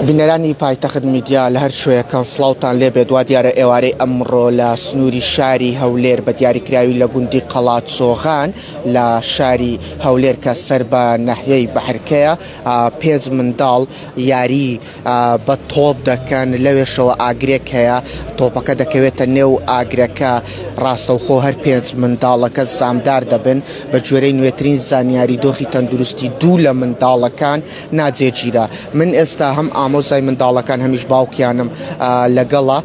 بینەرانی پایتەخت میدیا لە هەر شوێکەن سلااوان لێ بێت وا دیارە ئێوارەی ئەمڕۆ لە سنووری شاری هەولێر بە دیاریکراوی لە گوندی قەڵات سۆغان لە شاری هەولێر کە سەر بە نەحیەی بەحرکەیە پێنج منداڵ یاری بە تۆپ دەکەن لەوێشەوە ئاگرێک هەیە تۆپەکە دەکەوێتە نێو ئاگرەکە ڕاستەوخۆ هەر پێنج منداڵەکە سامدار دەبن بە گوێرەی نوێترین زانیاری دۆخی تەندروستی دوو لە منداڵەکان ناجێگیرە من ئێستا هەم ئامۆزای منداڵەکان هەمیش باوکیانم لەگەڵە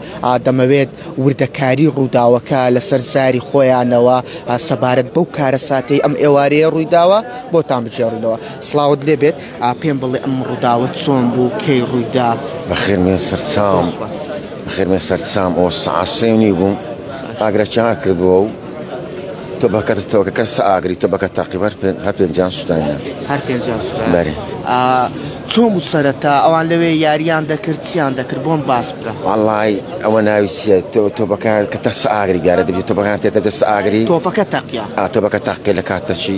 دەمەوێت وردەکاری ڕووداوەکە لەسەر زاری خۆیانەوە سەبارەت بەو کارەساتەی ئەم ئێوارەیە ڕوویداوە بۆتان بجێڕنەوە سلااوت لێبێت پێم بڵێ ئەم ڕووداوە چۆن بوو کەی ڕوویدا؟ بەخێر بێن سەرچاوم بەخێر بێن سەرچاوم ئەوە سەعات سێ و نیو بووم ئاگرەکیان هەر کردووە و تۆ بەکەتە تەوەکە کەس ئاگری تۆ بەکە تاقیب هەر پێ- هەر پێنجیان سوودایە هەر پێنجا سودا بەرێ چۆن بوو سەرەتا ئەوان لەوێ یاریان دەکرد چیان دەکرد بۆم باس بکە وەڵای ئەوە ناوی چیە تۆ تۆ بەکە کە تەس ئاگری دیارە دەبێت تۆ بەکان تێ دەبێت ئاگری تۆپەکە تەقیا ئا تۆ بەکە تاقی لە کاتەچی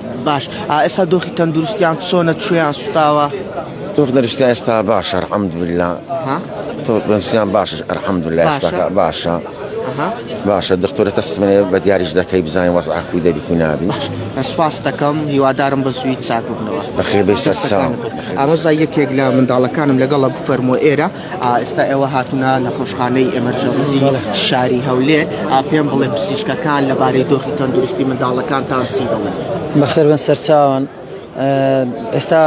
باش ئائستا دۆخی تەندروستیان چۆنە کوێیان سوتاوە؟ تۆخ دەرشتا ئێستا باشە حەمدلا تۆ دەنسیان باشش ئەرحەمدلا ئێستاکە باشە باشە دکتۆرە تەسمێ بە دیاریش دەکەی بزانین وەز ئاکو دەبی کو نابی سپاس دەکەم هیوادارم بە زووی چاکبوونەوە بەخێ بێ سەرساو ئامۆزای یەکێک لە منداڵەکانم لەگەڵە بفەرمۆ ئێرە ئێستا ئێوە هاتونە نەخۆشخانەی ئەمەرجەنسی شاری هەولێ پێم بڵێ پزیشکەکان لەبارەی دۆخی تەندروستی منداڵەکانتان چی دەڵێن بەخێر بن سەرچاوان ئێستا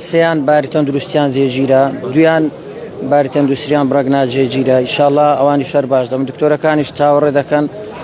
سیان باری تەندروستیان جێگیرە دویان باری تەندروستیان بڕگنا جێگیرە ئیشاءاللە ئەوانی شەر باش دەم دکتۆرەکانیش چاوەڕێ دەکەن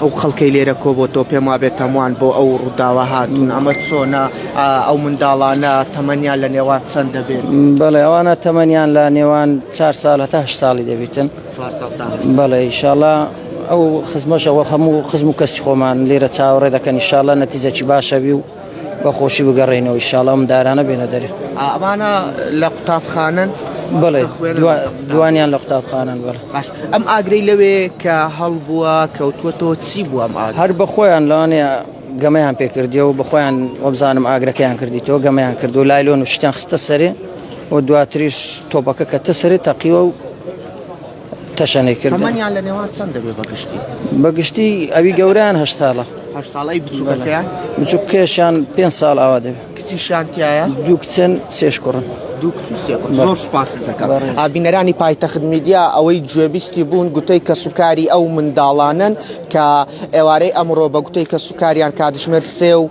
ئەو خەڵکەی لێرە کۆبۆتەوە پێم وابێت تەموان بۆ ئەو ڕووداوە هاتون ئەمە چۆنە ئەو منداڵانە تەمەنیان لە نێوان چەند دەبێت بەڵێ ئەوانە تەمەنیان لە نێوان چار ساڵ هەتا هەشت ساڵی دەبیتن بەڵێ ئیشاڵا ئەو خزمەشەوە هەموو خزم و کەسی خۆمان لێرە چاوەڕێ دەکەن ئیشاڵە نەتیجەکی باشەوی و بە خۆشی بگەڕێنەوە ئیشاڵا ئەم دارانە بێنە دەرێ ئەمانە لە قوتابخانەن بڵێ دوانیان لە قوتابخانەن بڵێ باش ئەم ئاگرەی لەوێ کە هەڵبووە کەوتوەتەوە چی بووە هەر بەخۆیان لەوانەیە گەمەیان پێکردی و بەخۆیان وەبزانم ئاگرەکەیان کردی تۆ گەمەیان کرد و لایلۆن و شتیان خستە سەرێ و دواتریش تۆپەکە کە تەسەری تەقیوە و تەشەنەی کرد تەمەنیان لە نێوان چەند دەبێت بە گشتی بە گشتی ئەوی گەوریان هە ساڵە هە ساڵی بچووکەکەیان بچوک کێشان پێ ساڵ ئاوا دەبێت کچی شانتیایە دوو کچن سێش کوڕن زۆر سپاس دەکەم ئابینەرانی پایتەخت میدیا ئەوەی گوێبیستی بوون گوتەی کە سوکاری ئەو منداڵانن کە ئێوارەی ئەمڕۆ بە گوتەی کە سوکاریان کاتژمێر سێ و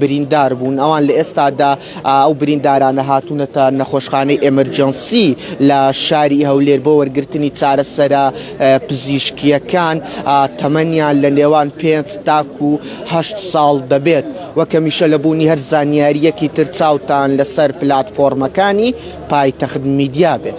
بریندار بوون، ئەوان لە ئێستادا ئەو بریندارانە هاتوونەتە نەخۆشخانەی ئێمرجێنسی لە شاری هەولێر بۆ وەرگرتنی چارەسەرە پزیشکییەکان، تەمەنیان لە نێوان پێنج تاکو هەشت ساڵ دەبێت، وەک هەمیشە لە بوونی هەر زانیارییەکی تر چاوتان لەسەر پلاتفۆرمەکانی پایتەخت میدیا بێت.